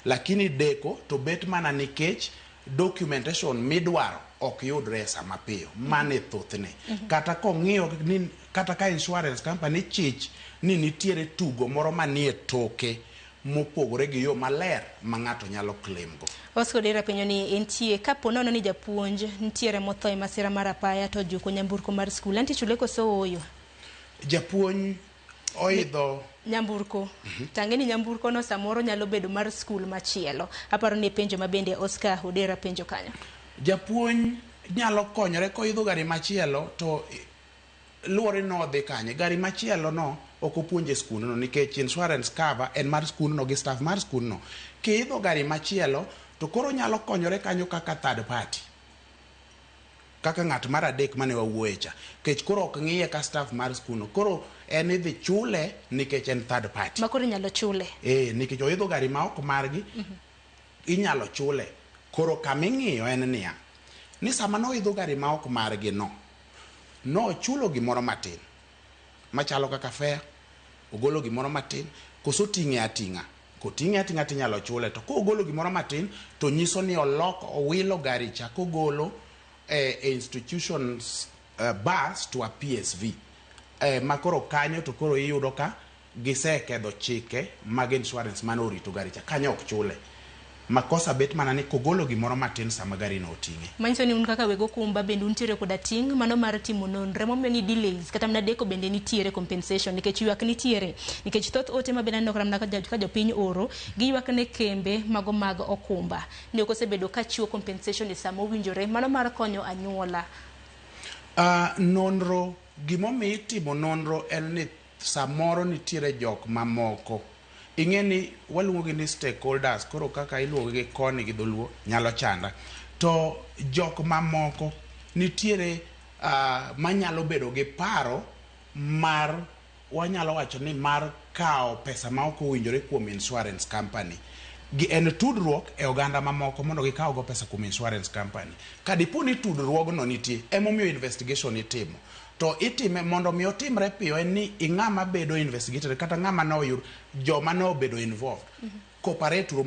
Lakini deko to bet mana nikech documentation midwaro ok yudre e saa mapiyo. Mano e thothne. Kata kong'iyo ni kata ka insurance company chich ni nitiere tugo moro manie toke mopogore gi yo maler ma ng'ato nyalo claim go. Bosco Odera penyo ni entie kapo nono ni japuonj nitiere motho e masira mar apaya to ojuko nyamburko mar skul, enti chule koso ooyo? Japuonj oidho nyamburko mhm. tange ni nyamburko no samoro nyalo bedo mar skul machielo aparo ni penjo ma bende Oscar Odera penjo kanyo japuonj nyalo konyore koidho gari machielo to luwore ni odhi kanye gari machielo no ok opuonje skundno nikech insurance cover en mar skundno gi staff mar skundno kiidho gari machielo to koro nyalo konyore kanyo kaka third party kaka ng'at mar adek mane wawuoye cha kech koro ok ng'iye ka staff mar school no koro en idhi chule nikech en third party ma koro inyalo chule eh nikech oidho gari ma ok margi mm -hmm. inyalo chule koro kama ing'iyo en niya ni sama noidho gari ma ok margi no nochulo gimoro matin machalo kaka fare ogolo gimoro matin koso ting'e ating'a Koting'e ating'a to inyalo chule, to kogolo gimoro matin to nyiso ni oloko owilo gari cha kogolo eh, e institutions eh, bus to a PSV eh, ma koro kanyo to koro iyudo ka gisekedho chike mag insurance mane orito gari cha kanyo ok chule. Makosa bet mana ni kogolo gimoro matin sama garino oting'e. Manyiso ni un kaka weg okumba bende untiere koda ting' mano mar timo nonre momiyo ni delays kata mana deko bende nitiere compensation nikech yuak nitiere nikech thoth ote mabende aneno kata mana ka jopiny oro giyuak ne kembe mago mag okumba ni ok osebedo ka chiwo compensation e sama owinjore mano mar konyo anyuola. Nonro, Gimomiyo itimo nonro en ni. Samoro nitiere jok mamoko, ing'e ni waluongo gi ni stakeholders, koro kaka iluongo gi koni gi dholuo nyalo chanda. To jok mamoko nitiere manyalo bedo gi paro mar wanyalo wacho ni mar kawo pesa ma ok owinjore kuom insurance company. En tudruok e oganda mamoko mondo gikaw go pesa kuom insurance company. Ka dipo ni tudruogno nitie, emomiyo investigation itimo. to itime mondo mi otimre piyo en ni ing'ama bedo investigated kata ng'ama ne oyud joma ne obedo involved cooperate uru